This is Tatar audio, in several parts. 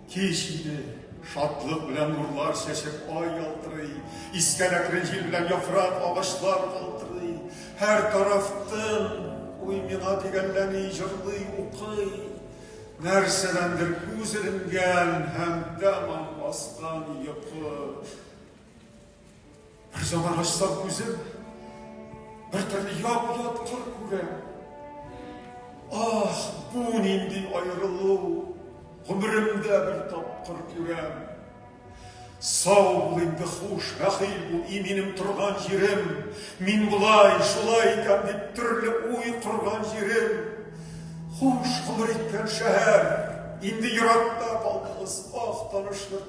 Кич иде, шатлык белән нурлар чәчеп ай ялтырый, искән әкрен җил белән яфрак агачлар калтырый, һәр тарафтын уй миңа дигәнләми җырлый укый. Нәрсәдәндер күз иренгән һәм тәмам баскан йокы. Бер заман ачсам күзем, бер төрле яп-яткыр күрәм. Ах, бу нинди аерылу, гомеремдә бер тапкыр күрәм. Сау бул инде хуш, рәхил бул, и минем торган җирем. Мин болай, шулай икән дип төрле уй корган җирем. Хуш гомер иткән шәһәр, инде еракта калдыгыз, ах, танышлык.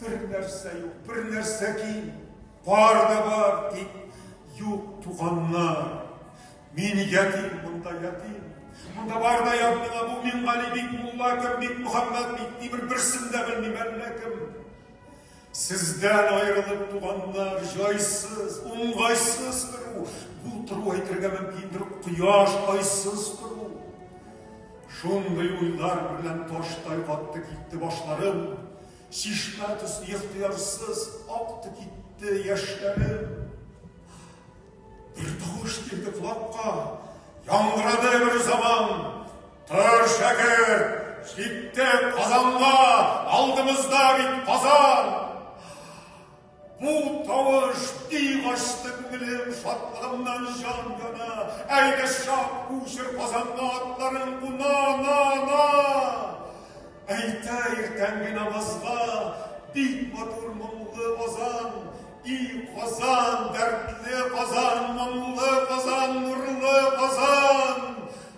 Бер нәрсә юк, бер нәрсә ким, бар да бар, дип, юк туганнар. Мин ятим, монда ятим. Монда бар да ят миңа бу Мингали бик мулла кем, бик Мөхәммәд бик ни бер берсен дә белмим әллә кем. Сездән аерылып туганнар, җайсыз, уңгайсыз тору, бу тору әйтергә мөмкиндер, кояш айсыз тору. Шундый уйлар белән таштай атты китте башларым, Чишмә төсле ихтыярсыз акты китте яшьләрем. Бер тавыш килде колакка, яңгырады бер заман. Тор, шәкерт, җитте Казанга, алдымызда бит Казан. Бу тавыш бик ачты күңелем шатлыгымнан җан яна. Әйдә чак күчер Казанга атларын куна, на, на. Әйтә иртәнге намазга бик матур моңлы Казан, и Казан, дәртле Казан, моңлы Казан, нурлы Казан.